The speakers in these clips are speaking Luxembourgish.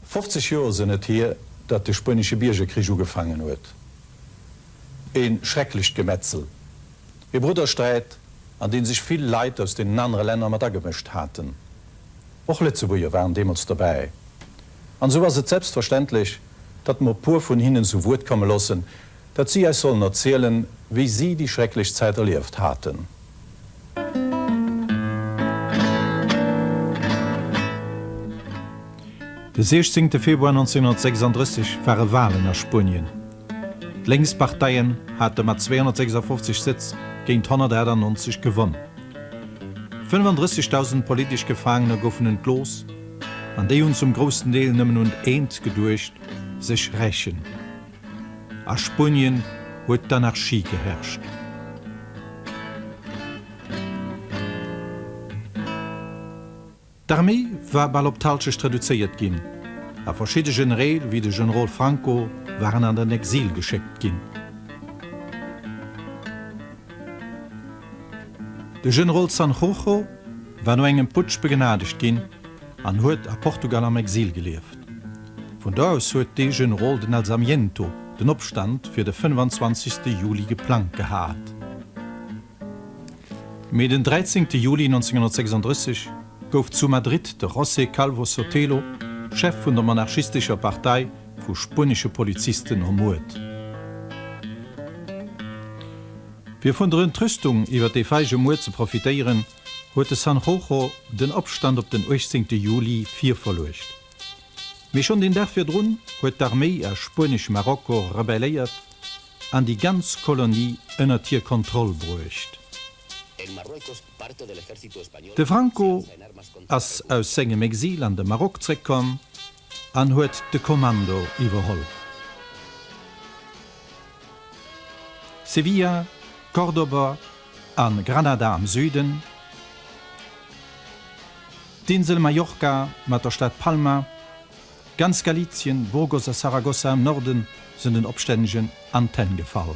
Fofzeg Joer sënn et hier, datt de Spuenesche Biergerkrich ugefaangen huet. E schrecklecht Gemetzel, e Bruddersträit, an dee sech vill Leit aus deenen anere Länner mat agemëscht haten. Och Lëtzebuerger waren deemools dobäi. An esou ass et selbstverständlech, datt mer e puer vun hinnen zu Wuert komme loossen, Dat si äis sollen erzielen, wéi si déi schrecklech Zäit erlieft haten. De 16 Februar 1936 ware Walen a Spuenien. D'Lénksparteien hate mat 256 Sëtz géint 198 gewonn. 35.000 politesch Gefaangener goufen entlooss, an déi hunn zum groussen Deel nëmmen un eent geduecht, sech rächen. A Spunien huet d'Anarchie geherrscht. D'Arméi war bal op d'Halschecht reduzéiert ginn, a verschidde Genereel, wéi de Generol Franco, waren an den Exil geschéckt ginn. De Generol Sanjurjo war no engem Putsch begnadegt ginn an huet a Portugal am Exil gelieft. Vun do aus huet de Generol den Alzamiento den Opstand fir de 25 Juli geplangt gehat. Mee den 13 Juli 1936 gouf zu Madrid de José Calvo Sotelo, Chef vun der monarchistescher Partei, vu spuenesche Polizisten ermuert. Fir vun der Entrüstung iwwer dee feige Muer ze profitéieren, huet de San Jojo den Opstand op den 18 Juli virverluecht. Mee schonn den Dag virdrun huet d'Arméi a Spuenesch-Marokko rebelléiert an déi ganz Kolonie ënnert hir Kontroll bruecht. De Franco ass aus sengem Exil an de Maroc zréckkomm. An huet de Kommando iwwerholl. Sevilla, Córdoba a Granada am Süden, d'Insel Mallorca mat der Stad Palma, ganz Galizien, Burgos a Saragossa am Norden sënn den Opstännegen an d'Hänn gefall.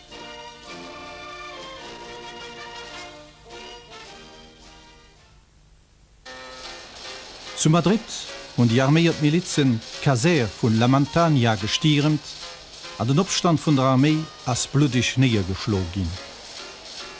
Zu Madrid hunn déi arméiert Milizen d'Kasär vun La Mantaña gestiermt an den Opstand vun der Arméi ass bluddeg néiergeschloe ginn.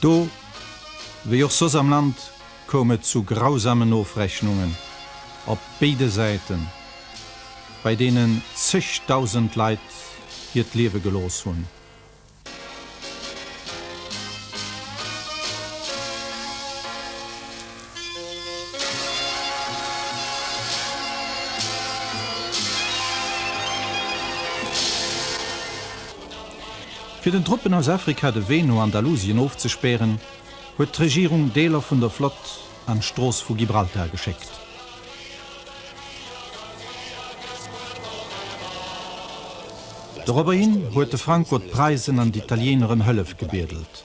Do, wéi och soss am Land, koum et zu grausamen Ofrechnungen op béide Säiten, bei deenen zëgdausend Leit hiert Liewe gelooss hunn. Fir den Truppen aus Afrika de Wee no Andalusien ofzespären, huet d'Regierung Deeler vun der Flott an d'Strooss vu Gibraltar geschéckt. Doropper hin huet de Franco d'Preisen an d'Italieener ëm Hëllef gebiedelt.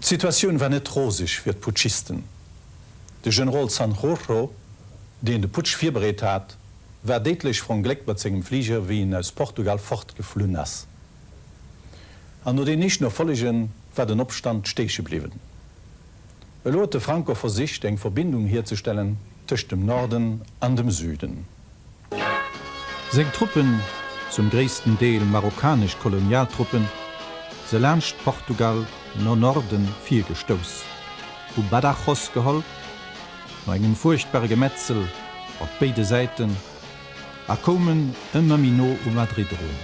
D'Situatioun war net roseg fir d'Putschisten. De Generol Sanjurjo, deen de Putsch virbereet hat, war déidlech verongléckt mat sengem Fliger, wéi en aus Portugal fortgeflunn ass. An no den éischten Erfollegë war den Opstand stéche bliwwen. Elo huet de Franco versicht, eng Verbindung hierzestellen tëscht dem Norden an dem Süden. Seng Truppen, zum gréissten Deel marokkanesch Kolonialtruppen, se laanscht Portugal no Norden virgestouss, hu Badajoz geholl, no engem fuerchtbare Gemetzel op béide Säiten, a koumen ëmmer méi no u Madrid erun.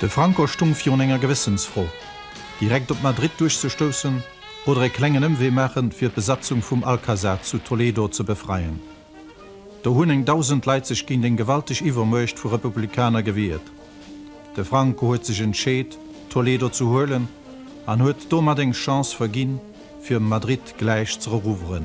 De Franco stoung virun enger Gewëssensfro, direkt op Madrid duerchzestoussen, oder e klengen Ëmwee maachen, fir d'Besatzung vum Alcazar zu Toledo ze befreien. Do hunn eng dausend Leit sech géint eng gewalteg Iwwermuecht vu Republikaner gewiert. De Franco huet sech entscheet, Toledo ze huelen an huet domat eng Chance verginn, fir Madrid gläich z'erouveren.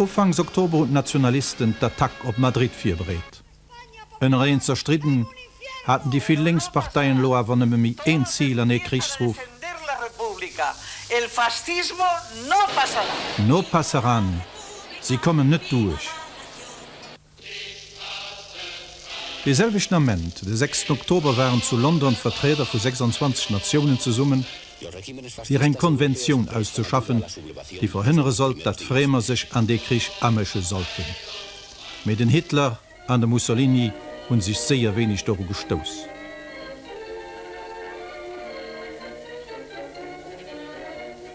Ufanks Oktober hunn d'Nationalisten d'Attack op Madrid virbereet. Ënnereneen zerstridden, haten déi vill lénks Parteien elo awer nëmme méi een Zil an ee Krichsruf, No pasarán! Si kommen net duerch! Dee selwechten Ament, de sechsten Oktober, waren zu London d'Vertrieder vu 26 Natiounen zesummen, fir eng Konventioun auszeschaffen, déi verhënnere sollt, datt Fréemer sech an dee Krich amësche sollten. Mee den Hitler an de Mussolini hu sech séier wéineg doru gestouss.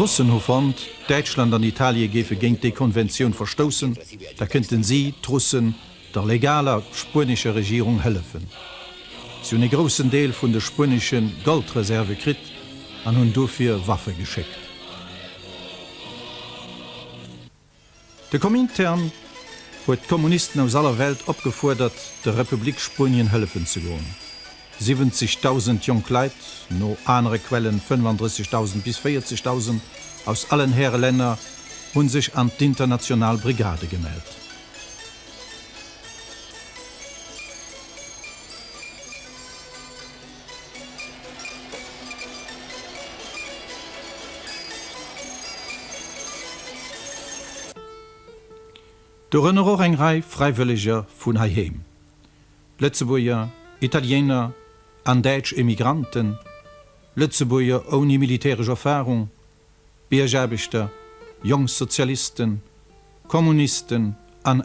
D'Russen hu fonnt, Däitschland an Italie géife géint déi Konventioun verstoussen, da kënnte si, d'Russen, der legaler spuenescher Regierung hëllefen. Si hunn e groussen Deel vun de spuenesche Goldreserve kritt an hunn dofir Waffe geschéckt. De Komintern huet d'Kommunisten aus aller Welt opgefuerdert, der Republik Spuenien hëllefen ze goen. 70.000 jonk Leit, no anere Quellen 35.000 bis 40.000, aus allen Häre Länner hu sech an d'International Brigade gemellt. Dorënner och eng Rei Fräiwëlleger vun heiheem, Lëtzebuerger, Italiener an däitsch Emigranten, Lëtzebuerger ouni militäresch Erfarung, Biergaarbechter, jonk Sozialisten, Kommunisten an.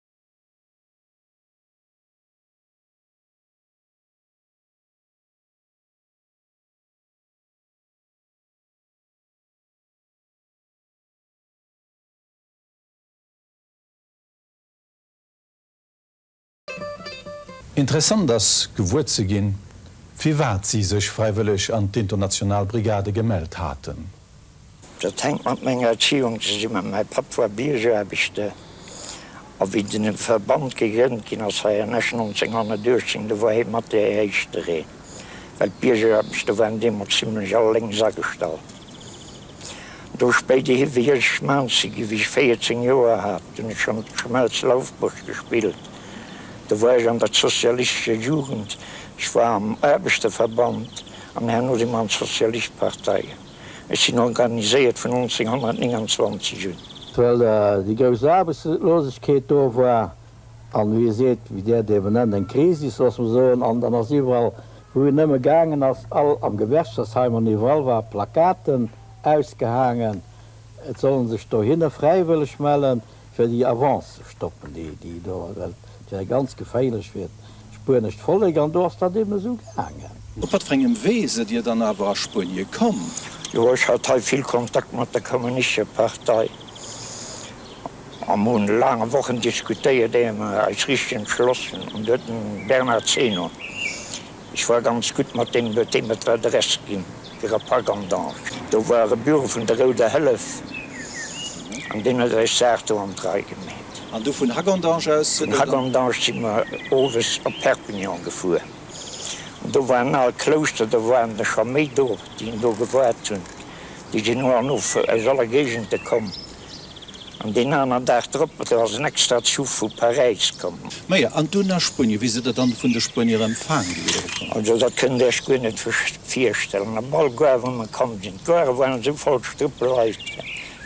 Interessant ass gewuer ze ginn, firwat si sech fräiwëlleg an d'international Brigade gemellt haten. Dat hänkt mat menger Erziehung zesummen. Mäi Papp war Biergaarbechter a wéi den Verband gegrënnt ginn ass hei an Esch 1918, do war hie mat dee éischter een, well d'Biergaarbechter waren deemools zimlech all lénks agestallt. Do spéider hi wéi ech Schmelzer ginn, wéi ech 14 Joer hat, hunn ech schonn Schmelz Laufbuerg gespillt. Do war ech an der sozialistescher Jugend, ech war am Aarbechterverband. An herno si mer an d'Sozialistpartei. Ech sinn organiséiert vun 1929 un. Well déi grouss Aarbechtslosegkeet do war, an wéi e seet, wie der dem en Enn, eng Krisis, loosse mer soen. An dann ass iwwerall, wou en nëmme gaangen ass, all am Gewerkschaftsheim an iwwerall war, Plakaten ausgehaangen, et soll en sech dohinne fräiwëlleg mellen, fir déi Avance ze stoppen, déi, déi do, well et wär ganz geféierlech fir d'spuenescht Vollek, an do ass dat eben esou gaangen. Op wat fir engem Wee sidd Dir dann awer a Spuenie komm? Jo, ech hat hei vill Kontakt mat der Kommunistescher Partei, a mer hunn laange Wochen diskutéiert, éier mer eis richteg entschlossen hunn. Do huet den Bernard Zeno. Ech war ganz gutt mat deem, huet dee mer d'Welt erech ginn, fir a Pak an Dank. Do war e Büro vun der Rouder Hëllef an deen huet eis Saach do an d'Rei gemeet. An du vun Hagandange aus? Vun Hagandange si mer owes op Perpignan gefuer an do war en al Klouschter, do waren der scho méi do, déi en do gewaart hunn. Déi sinn no an no aus aller Géigende komm. An deen aner Dag drop ass ass en extra Zuch vu Paräis komm. Maja, an dunn a Spuenie. Wéi sidd Der dann vun de Spuenier empfaang gi oder bekomm? Also, dat kënnt Der Iech guer net virstellen. Op all Gare, wou mer komm sinn, d'Garë waren esou voll, Strëppel Leit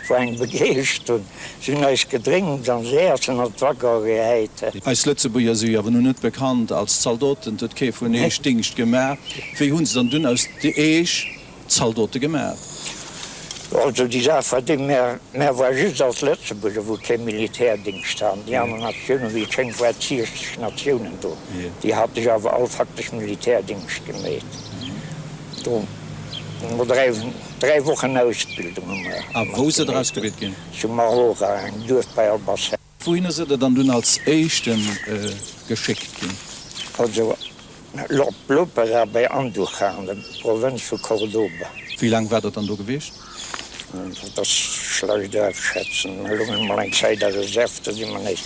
vu engem begeescht hunn. Si hunn eis Gedrénks an eis Äessen an d'Waggone gehäit. Eis Lëtzebuerger si jo awer nun net bekannt als Zaldoten, et huet kee vun Iech Dingscht gemaach. Wéi hunn se dann dunn aus Iech Zaldote gemaach. Also déi Saach war déi, mär war just als Lëtzebuerger, wou kee Militärdéngscht haten, déi aner Natiounen, wéi et schéngt, war et 60 Natiounen do, déi hate sech awer all faktesch Militärdéngscht gemeet. Do hu mer dräi, dräi Wochen Ausbildung hu mer. A wou sidd Der ausgebilt ginn? Zu Marora, engem Duerf bei Albacete. Wouhinner sidd der dann dunn als éischte geschéckt ginn? Foto, Lord Lopera bei Andújarnam, Provënz vu Cordoba. Wéi laang waart der dann do gewiescht? Dat ass schlecht afschätzen. Mir loungen emol eng Zäit a Reserv, da si mir nees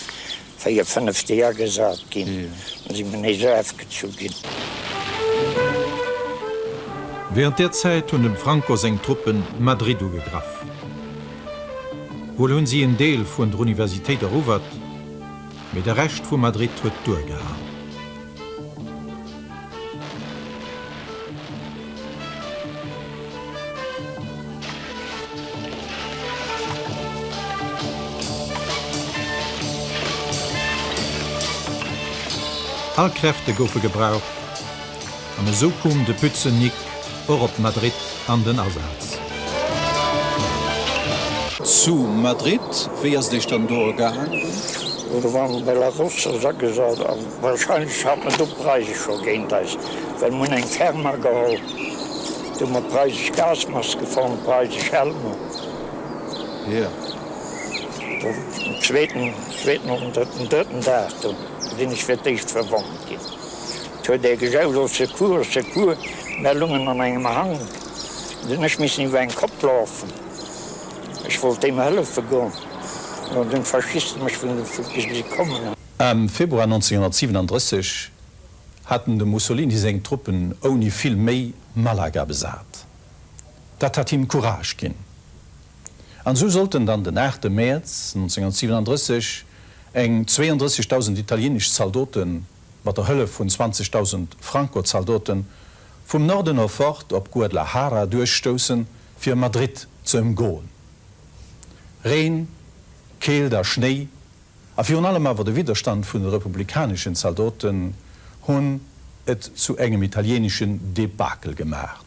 véier, fënnef Deeg agesat ginn, da si mir nees ofgezu ginn. Wärend där Zäit hunn dem Franco seng Truppen Madrid ugegraff. Wuel hunn si en Deel vun der Universitéit erowert, mee de Rescht vu Madrid huet duergehal. All Kräfte goufe gebraucht, An esou koom de Pützen Nick och op Madrid an den Asaz. Zu Madrid, wéi ass et Iech dann do ergaangen? Do waren mer bei La Rosa agesat a wahrscheinlech hat mer do d'Preise scho géint eis, well mer hunn eng Therma geholl, do hu mer preisesch Gasmaske fonnt, preisesch Helmer. Jo, den zweeten, zweeten oder drëtten, drëtten Dag do sinn ech fir d'éischt verwonnt ginn. Et huet ee gejaut, Au secours, au secours! Mär lungen an engem Hang. Et hunn ech missen iwwer eng Kopp lafen. Ech wollt deem hëllefe goen, an dann hunn d'Faschiste mech vun de Foutte gesi kommen. Am Februar 1937 haten dem Mussolini seng Truppen ouni vill Méi Malaga besat. Dat hat him Courage ginn. An esou sollten dann den 8 Mäerz 1937 eng 32.000 italienesch Zaldoten, mat der Hëllef vun 20.000 Franco-Zaldoten, vum Norden of fort op Guadlajara duerchstoussen, fir Madrid ze ëmgoen. Reen, Keelt a Schnéi, a virun allem awer de Widderstand vun de republikaneschen Zaldoten, hunn et zu engem italieneschen Debakel gemaacht.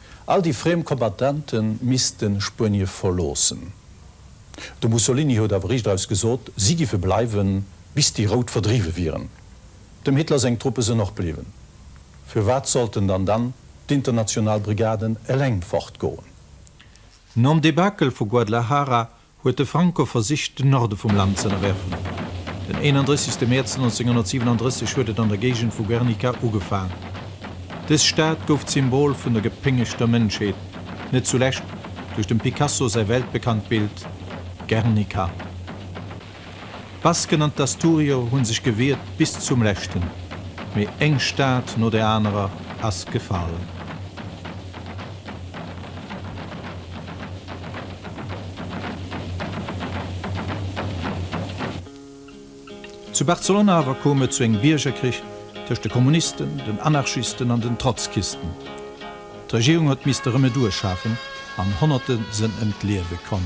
All déi friem Kombattante missten Spuenie verloossen. De Mussolini huet awer riicht aus gesot, si giffe bleiwen, bis déi Rout verdriwwe wieren. Dem Hitler seng Truppe sen och bliwwen. Firwat sollten dann dann d'international Brigaden eleng fortgoen? Nom Debakel vu Guadlajara huet de Franco versicht, den Norde vum Land z'ënnerwerfen. Den 31. Mäerz 1937 huet et an der Géigend vu Guernica ugefaang. Dës Stad gouf d'Symbol vun der gepéngegter Mënschheet, net zulescht duerch dem Picasso säi weltbekannt Bild Guernica. D'Basken an d'Asturier hunn sech gewiert bis zum leschten, mee eng Stad no der anerer ass gefall. Zu Barcelona awer koum et zu engem Biergerkrich tëscht de Kommunisten, den Anarchisten an den Trotzkisten. D'Regierung huet misste Remedur schafen an Honnerte sënn ëm d'Liewe komm.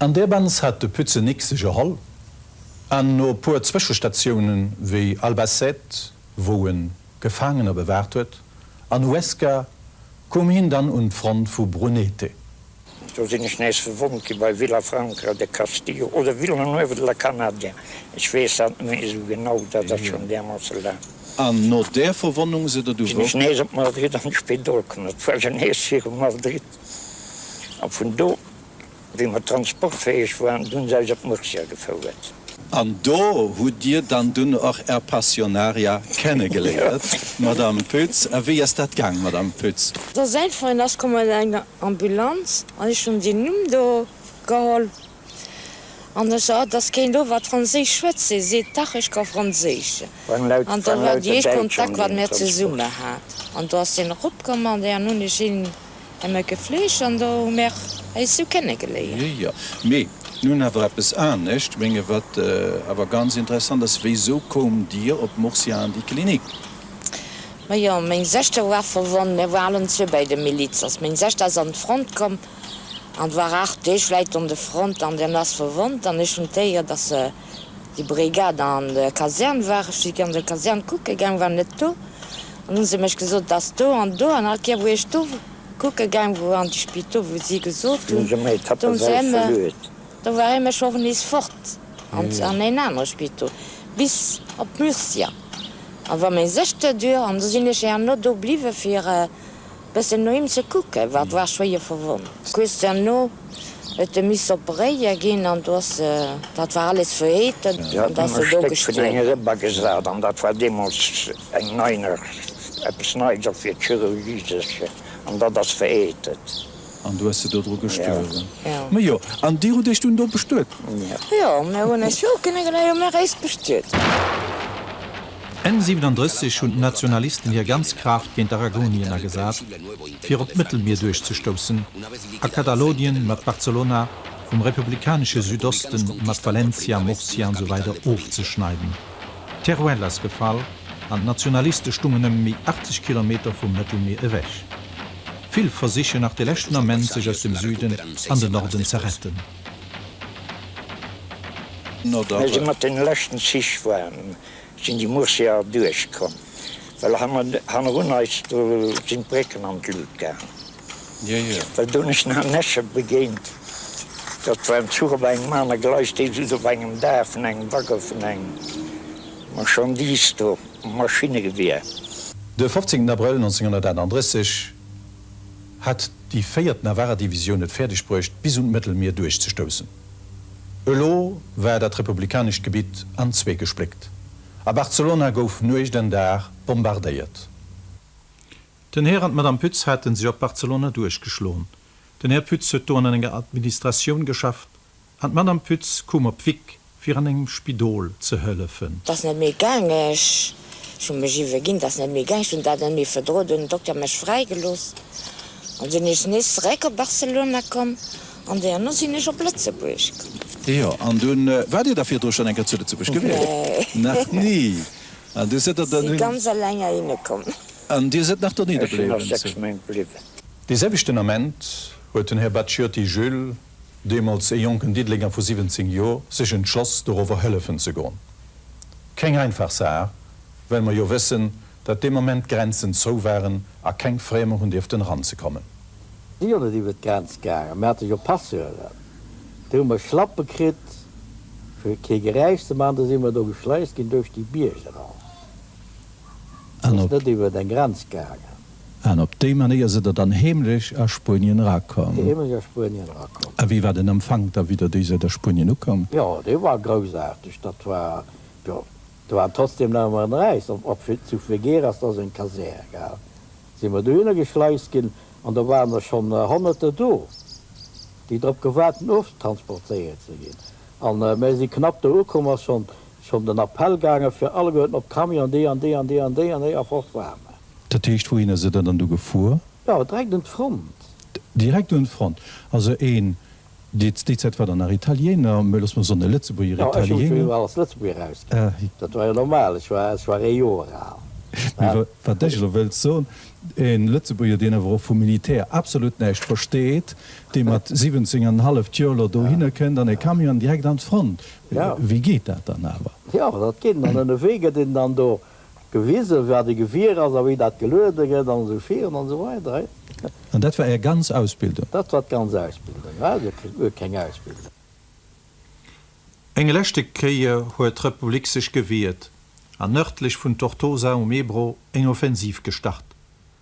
An där Benz hat de Pützenik sech erholl an no e puer Zwëschestatioune wéi Albacete, wou e Gefaangener bewaart huet, an Huesca koom hien dann un d'Front vu Brunete. Do sinn ech nees verwonnt gi bei Vilafranca de Castillo oder Villanueva de la Canadia, ech weess dat net méi esou genau, dat ass schonn därmoosse laang. An no där Verwonnung sidd Der du wou? Sinn ech nees op Madrid an d'Spidol komm, dat war jo nees viru Madrid. A vun do, wéi mer transportfäeg waren, hu se eis op Murcia gefouert. An do hutt Dir dann dunn och Är Passionaria kennegeléiert, Madamm Pütz. A wéi ass dat gaang, Madamm Pütz? Da säin Frënd ass komm mat enger Ambulanz an ech hunn deen Numm do geholl. An ech, ah, dass keen do wat Franséisch schwätze seet, dach, ech ka Franséisch. An do war déi éischt Kontakt, wat mir zesumme hat. An do ass hien eropkomm an dann hunn ech hien ëmmer gefleegt an do hu mir eis esou kennegeléiert. Jo, mee nun awer eppes anescht, menge wat awer ganz interessant ass, wéisou koumt Dir op Murcia an déi Klinik? Majo, meng Sechter war verwonnt, mir war allen zwee bäi de Miliz, ass meng Sechter ass an d'Front komm. En war aacht Deeg wäit un de Front an en ass verwonnt. An ech hunn d'Éier, dass déi Brigade an der Kasern war. Ech si an der Kasern kucke gaang, war net do. An hu se mech gesot, dass do an do. An all Kéier, wou ech do kucke gaang wou an déi Spito, wou si gesot hunn, do war ee mech och nees fort an een anere Spito, bis op Murcia. A war méi sécher duer. An do sinn ech herno do bliwwe fir. Bessen no him ze kucken, wat war schwéier verwonnt. Kuerz derno huet de missen operéier ginn an do ass, dat war alles verheeten an da ass e do gestuerwen. Bagesat an dat war deemols eng nei nach eppes neits och fir d'Chirurgie sécher an dat ass verheetet. An du hues se dodru gestuerwen. Majo, an dir hutt iech dunn do bestuet? Jo, mir hunn eis jo kënne gläich um Eréis bestuet. Enn 37 hunn d'Nationalisten hir ganz Kraaft géint Aragonien agesat, fir op d'Mëttelmier duerchzestoussen, a Katalonien mat Barcelona, vum republikanesche Südoste mat Valencia, Murcia an esou weider ofzeschneiden. Teruel ass gefall, an d'Nationaliste stungen nëmme méi 80 Kilometer vum Mëttelmier ewech. Vill versichen nach de leschten Ament sech aus dem Süden an den Norden ze retten. Wéi se mat den leschten Zich waren, sinn déi Murciaer duerch komm, well hannerun eis do sinn d'Brécken an d'Lut gaang. Well do nech nach Näsche begéint, dat war en Zuch op engem aner Gleis, dee just op engem Daach vun engem Waggon vun engem Marchandise do, Maschinnegewehr. De 15 Abrëll 1938 hat déi véiert Navarra-Divisioun et fäerdeg bruecht, bis un d'Mëttelmier duerchzestoussen. Elo war dat republikanescht Gebitt an zwee gespléckt, a Barcelona gouf Nuecht an Dag bombardéiert. Den Här an d'Madame Pütz hate sech op Barcelona duerchgeschloen. Den Här Pütz huet do an enger Administratioun geschafft, An d'Madame Pütz koum op Wyck, fir an engem Spidol ze hëllefen. 't ass net méi gaang, ech hu mech iwweginn, 't ass net méi gaang, ech hunn dat net méi verdroen. Du hunn den Dokter mech fräigelooss an dunn ech nees zeréck op Barcelona komm an deerno sinn ech op Lëtzebuerg komm. Jo, an dunn waart Dir da virdru schonn eng Kéier zu Lëtzebuerg gewiescht? Nee. Nach ni? An du sidd der dann hinn? Si ganz alleng heihinne komm. An Dir sidd nach donieder bliwwen? Ech sinn nach 6 Méint bliwwen. Dee selwechten Ament huet den Här Bacciotti Jules deemools ee jonken Diddelenger vu 17 Joer, sech entschloss, dorowwer hëllefen ze goen. Keng einfach Saach, well mer jo wëssen, datt dee Moment d'Grenzen zou waren a keng Fréemer hunn dierften eranzekommen. Si jo net iwwer d'Grenz gaangen. Mir hate jo Passeuren. Do hu mer Schlappe kritt, fir kee Geräisch ze maachen. Da si mer do geschleist ginn duerch déi Bierg eran. Ass net iwwer eng Grenz gaangen. An op déi Manéier sidd der dann heemlech a Spuenien erakomm? Heemlech a Spuenien erakomm. A wéi war den Empfank da widder, déi sidd a Spuenien ukomm? Jo, dee war groussaarteg. Dat war, jo, do war trotzdem nach emmer en Räis. Op, zu Figueras, dat ass eng Kasär, gell, si mer dohinner geschleist ginn. An do waren der schonn Honnerter do, déi drop gewaart hunn, oftransportéiert ze ginn. A mir si knapp do ukomm, ass schonn, schonn den Appell gaangen, fir alleguerten op d'Camion, déi an déi an déi an déi an déi, a fort war mer. Dat heescht, wouhin ass Der da dann do gefuer? Jo, direkt un d'Front. Direkt un d'Front. Also een, dee déi Zäit war dann nach Italiener, mä loosse mer soen e Lëtzebuerger Italiener. Jo, ech hu mech jo ëmmer als Lëtzebuerger ausginn. Dat war jo normal, ech war, ech war ee Joer al. Mä wa, wat ech elo wëllt soen, e Lëtzebuerger, deen awer och vum Militär absolut näischt versteet, dee mat 17 an en halleft Joer elo dohinner kënnt an e Camion an direkt an d'Front. Wéi geet dat dann awer? Jo, dat geet dann, ënnewee gëtt een dann do Gewise wat e Gewier ass a wéi dat geluede gëtt an esou viren an esou weider. An dat war Är ganz Ausbildung? Dat war d'ganz Ausbildung, war jo guer keng Ausbildung. Eng leschte Kéier huet d'Republik sech gewiert an nördlech vun Tortosa um Ebro eng Offensiv gestart.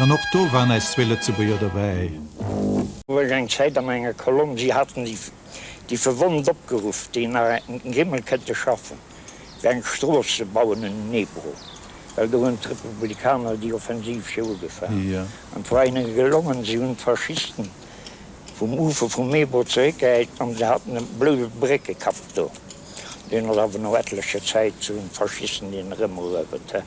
An och do waren eis zwee Lëtzebuerger dobäi. Huet eng Zäit an enger Kolonn Si haten déi Verwonnt opgeruff, déi nach eng Grimmel kënnte schaffen, fir eng Strooss ze bauen un den Ebro, well do hunn d'Republikaner déi Offensiv scho ugefaangen an et war hinne gelongen. Si hunn d'Faschisten vum Ufer vum Ebro zeréckgehäit an se haten e bloude Bréckekapp do. Deen ass awer no ettlecher Zäit zu den Faschisten hin erëmeruewert.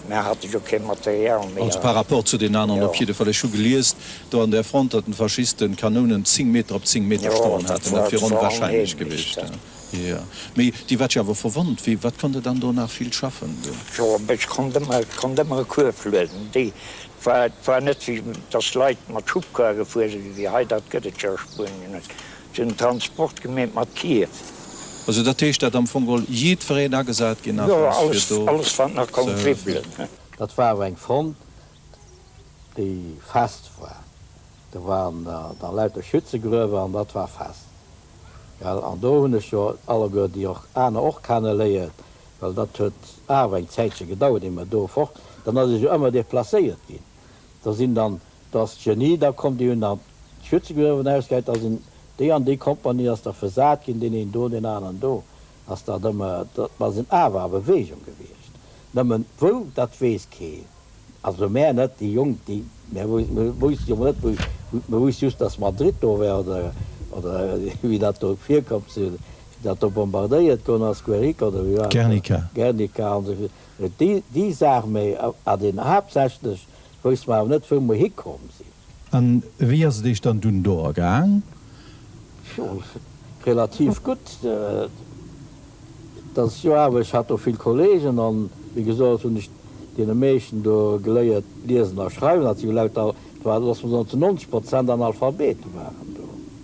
Mär hate jo kee Material méi. Also par rapport zu den aneren op jiddefall. Ech hu geliest do an der Front, datt den Faschisten Kanounen 10 Meter op 10 Meter stoen haten. Dat wier onwahrscheinlech gewiescht. Jo, mee dir waart jo awer verwonnt. Wéi, wat konnt der dann do nach vill schaffen do? Jo, mee ech konnt ëmmer, et konnt ëmmer e Kuerf lueden. Déi, et war, et war net wéi, datt Leit mat Schubkar gefuer sinn, wéi hei, dat gëtt et jo a Spuenien net. Den Transport gemeet mat Kier. Also dat heescht dat am Fong oll jiddfereen agesat ginn ass fir do ze hëllefen? Jo, alles wat nach konnt dribbelen. Dat war awer eng Front, déi fest war. Do waren da lauter Schützegruewer an dat war fest. Well, an do hunn ech jo alleguer déi och aner och kenne léien, well dat huet awer eng Zäitche gedauert, ier mer do fort, dann ass ee jo ëmmer deplacéiert ginn. Do sinn dann Dass d'Jeanny da konnt déi un an d'Schwitze geruffen aus geit, dass een déi an déi Kompanie ass da versat ginn, deen een do, deen aneren do, ass dat ëmmer, dat ass en Awer a Bewegung gewiescht. Nëmmen wou, dat weess keen, also mär net, déi Jonk, déi, mär wousst jo net wou, mär wousst just, dass Madrid do war oder, oder wéi dat do virkomm ze hunn, wéi dat do bombardéiert goen ass, Guerrica oder wéi war dat do, Guernica an esou virun, déi, déi Saach, mä a den haaptsächlech, Wousst mer awer net wou mer hikomm sinn. An wéi ass et eech dann dunn do ergaang? Jo, relativ gutt. Dat ass jo awer, ech hat do vill Kollegen an wéi gesot hunn ech deene meeschten do geléiert liesen a schreiwen. Dat si jo lauter, et waren, loosse mer soen, zu 90 Prozent Analphabete waren do.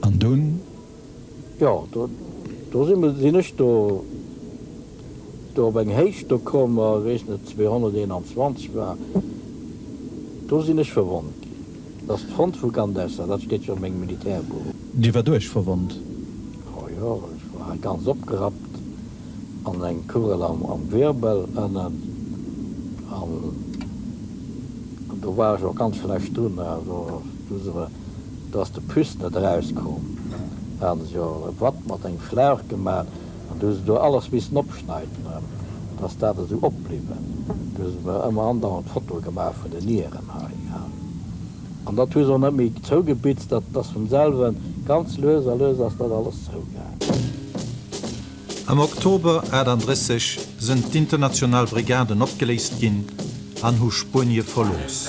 An dunn? Jo, do sinn mer, sinn ech do, do op eng Héicht do komm, ech weess net, 221 war, do sinn ech verwonnt ginn. Dat ass d'Front vu Gandesa, dat steet jo a mengem Militärbuch. Dir war duerch verwonnt? O jo, ech war ganz opgerappt an eng Kugel am Wirbel ënnen an do war ech och ganz schlecht drun. Userer, dass de Pus net eraus koom, haten se jo e Watt mat engem Schlauch gemat, an du hu se do alles missen opschneiden erem, dass dat esou opbliwen. Du hu se mer emmer andauernd Fotoe gemaach vun den Nieren hei, ha. An dat hu se och net méi zougebitzt, dat ass vum selwen, ganz lues a lues ass dat alles zougaang. Am Oktober 1938 sënn d'international Brigaden opgeléist ginn an hu Spuenie verlooss.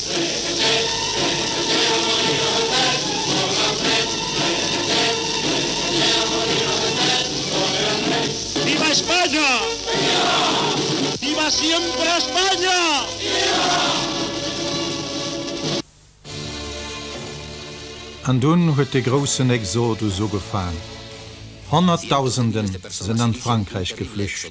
An dunn huet de groussen Exodus ugefaang. Honnertdausende sinn an Frankräich geflücht.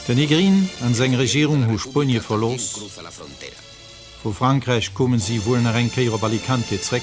De Negrin an seng Regierung hu Spuenie verlooss. Vu Frankräich koumen si wuel nach eng Kéier op Alicante zréck.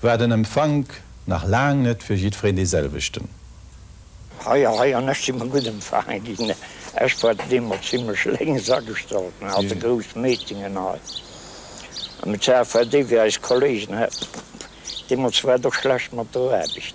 war den Empfank nach laang net fir jiddfereen dee selwechten. Hei a hei, an ech si mer gutt empfaange ginn. Ech war deemools zimlech lénks agestallt, mir hate grouss Meetingen hei am CFL, déi wéi eis Kolleegen, deemools war et och schlecht mat der Aarbecht.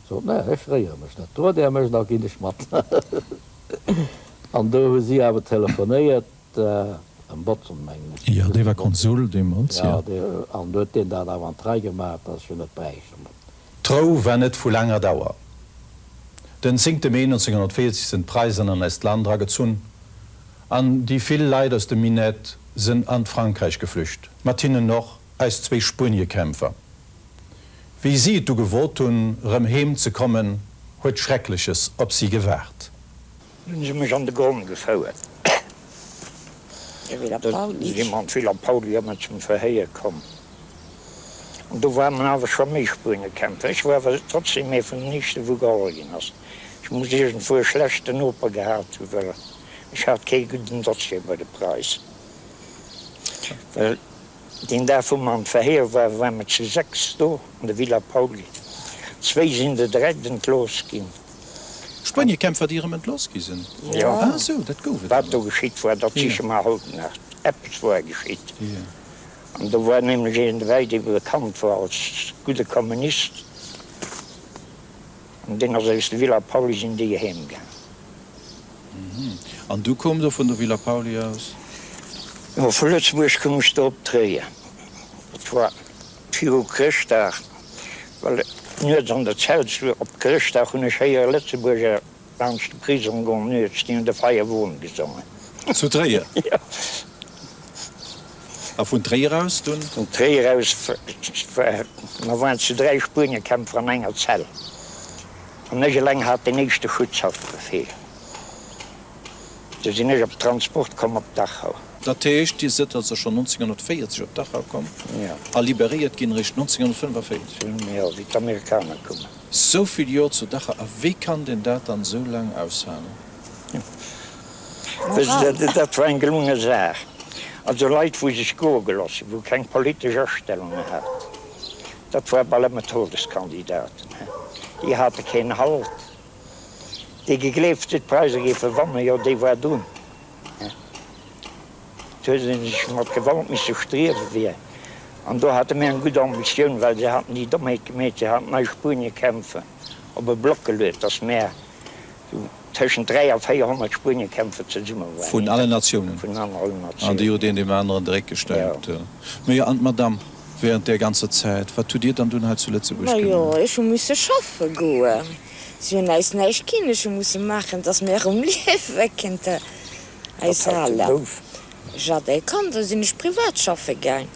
Sot, Mä ech fréiere mech net. Drot Är mech, da ginn ech mat. An do hu si awer telefonéiert, dem Botzen, mengen ech. Jo, dee war Konsul deemools, jo. Jo, an do huet deen dat awer an d'Rei gemaach, dass ech jo net bräicht. An dann. D'Rou war net vu laanger Dauer. Den zéngte Mee 1940 sinn d'Preisen an eist Land eragezunn an déi vill Leit aus dem Minett sinn an d'Frankräich geflücht, mat hinnen och eis zwéi Spueniekämpfer. Wéi si et du gewot hunn, erëm heem ze kommen, huet Schreckleches op si gewaart. Dunn hunn si mech an de Gronn gefouert. Dunn si mer an d'Villa Pauly a mer zum Verhéier komm. An do ware mer awer scho méi Spuenekämpfer. Ech wor awer trotzdeem ee vun den éischte wou geholl ginn ass. Ech muss iergendwou e schlechte Noper gehat hunn, well ech hat kee gudden Dossier bei de Preise. Well Deen Dag wou mer an d'Verhéier waren, ware mer zu sechs do an der Villa Pauly. Zwéi sinn der direkt entlooss ginn. Spueniekämpfer, déi erëm entlooss gi sinn? Jo. Ah sou, dat gouf et. Wat do geschitt war, dat siche mer haut nach. Eppes war geschitt. An do war nämlech een derbäi, dee bekannt war als gudde Kommunist. An deen ass aus der Villa Pauly, sinn déi eheem gaang. An du koum do vun der Villa Pauly aus? Jo, vu Lëtzebuerg koum ech do op Tréier. Et war viru Chrëschtdag, well nuets an der Zellsluer op Chrëschtdag hunn ech héiere Lëtzebuerger laanscht de Prisong goen nuets. Déi hunn de Feierwon gesongen. Zu Tréier? Jo. A vun Tréier aus dunn? Vun Tréier aus, mer waren zu dräi Spueniekämpfer an enger Zell. An ech eleng hat deen éischte Schutzhaftbefehl. Du sinn ech op de Transport komm op Dachau. Dat heescht, Dir sidd also schonn 1940 op Dachau komm a liberéiert ginn eréischt 1945? Jo, wéi d'Amerikaner koumen. Sou vill Jor zu Dachau, a wéi kann deen dat dann sou laang aushalen? Wësse se, dat war eng gelunge Saach. Also Leit wou sech goe geloss hunn, wou keng politesch Astellunge haten, Dat woar bal emmer Todeskandidaten, déi hate keen Halt, déi gegleeft hun d'Preiser géifen wannen, jo déi woar dun, et huet een sech mat Gewalt missen striewen wier, an do hate mir eng gudd Ambitioun, well se haten déi Dommheet gemeet, se haten Nei-Spuenien-Kämpfen op e Block geluet, dass mir Tëschent 3 a 400 Spueniekämpfer zesumme waren. Vun allen Natiounen. Vun allen Natiounen. An déi huet een deem aneren de Réck gestäipt. Jo. Mä jo, an d'Madame, wärend där ganzer Zäit, wat hutt Dir dann dunn hei zu Lëtzebuerg gemaach? Majo, ech hu musse schaffe goen. Si hunn äis näischt ginn. Ech hu musse maachen, dass mir erëm liewe kënnten. Äis Aler. Wat hatt de gouf. Ech hat ee Kand, da sinn ech privat schaffe gaang.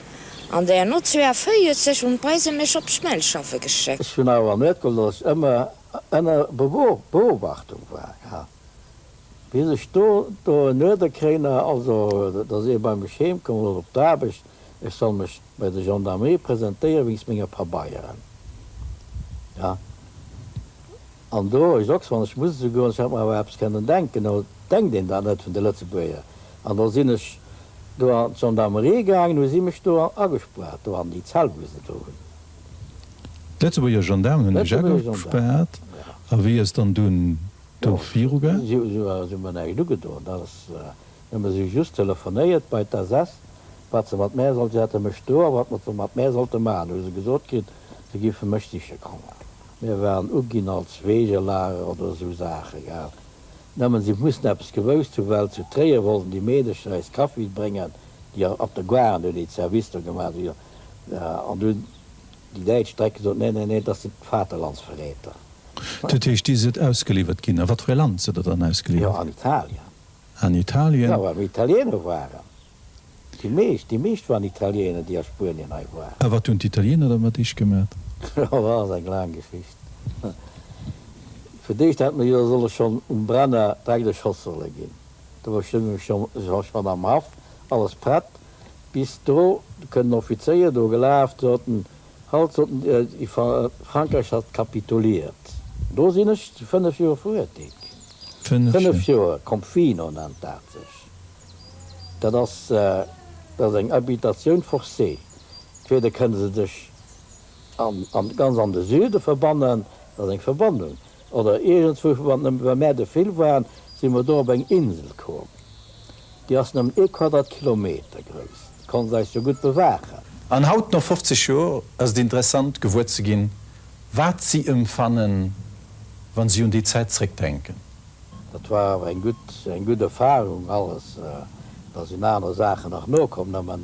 An där no 42 hunn d'Preise mech op Schmelz schaffe geschéckt. Ech hunn awer mierke looss, ëmmer ënner Beobachtung war, bis ech do en Uerder kréien hat, also dass ee bei mech heem komm ass op d'Aarbecht, ech soll mech bei der Gendarmerie presentéiere wéinst menger Pabeieren. An do ech ochs, wann ech muss esouguer, ech hätt mer awer eppes kënnen denken, o denkt een dat net vun de Lëtzebuerger, an da sinn ech do an d'Gendarmerie gaangen, hu si mech do agespaart, do an déi Zell wou se do hunn. D'Lëtzebuerger Gendaarmen hunn de Jacques gespaart, a wéi ass dann dunn do virugaang? Jo, si hu mer näischt ugedoen, dat ass nëmme, si hu just telefonéiert bei d'SS, wat se mat mär sollt, si hate mech do, a wat mer mat mär sollte maachen, hu se gesot kritt, se géife mech siche kommen. Mir waren uginn als Wegelager oder esou Saache, gell. Nëmmen si mussen eppes gewousst hunn, well zu Tréier wollten déi Meedecher eis Kaffi bréngen, déi op der Gare, an hunn déi d'Service do gemaach, An du, déi Däitsch drecke sot, Nee, nee, nee, dat sinn d'Vaterlandsverräter. Dat heescht, dir sidd ausgeliwwert ginn. A wat fir e Land sidd der dann ausgeliwwert ginn? Jo, an Italien. An Italien? Jo, well mer Italiener waren. Déi meescht, déi meescht waren Italiener, déi a Spuenien hei waren. A wat hunn d'Italiener da mat iech gemat? Jo, dat ass eng laang Geschicht. Fir d'éischt hätte mer jo solle schonn um Brenner dräck erschoss solle ginn. Do war schonn am Haff alles prett. Bis do kënnen Offizéier do gelaf, soten, Halt, soten dir, déi Frankräich hat kapituliert. Do sinn ech fënnef Joer verurteelt ginn. Fënnef Joer Confino nennt dat sech. Dat ass, dat ass eng Habitatioun forcée. Entweder kënne se dech an, ganz an de Süde verbannen, dat ass eng Verbannung, Oder iergendzwou, wann nëmme bei mär de Fil waren, si mer do op eng Insel komm, déi ass nëmmen ee Quadratkilometer grouss, déi konnte se eis jo gutt bewaachen. An haut, no 50 Joer, ass et interessant, gewuer ze ginn, wat si ëmfannen, wa si un déi Zäit zréckdenken. Dat war awer eng gutt, eng gutt Erfarung alles. Da sinn aner Saachen nach nokomm, nëmmen.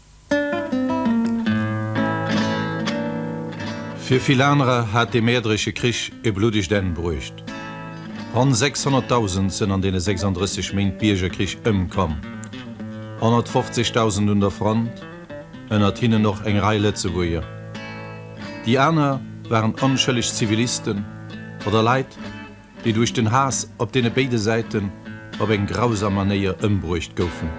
Fir vill anerer hat dee Mäerderesche Krich e bluddegt Enn bruecht. Ronn 600.000 sënn an deene 36 Méint Biergerkrich ëmkomm, 150.000 un der Front, ënnert hinnen och eng Rei Lëtzebuerger. Déi aner waren onschëlleg Zivilisten oder Leit, déi duerch den Haass op deene béide Säiten op eng grausam Manéier ëmbruecht goufen.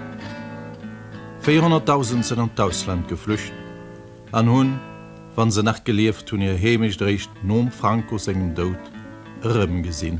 Véierhonnertdausend sinn an d'Ausland geflücht an hunn, wann se nach gelieft hunn, hir Heemecht eréischt nom Franco sengem Doud erëmgesinn.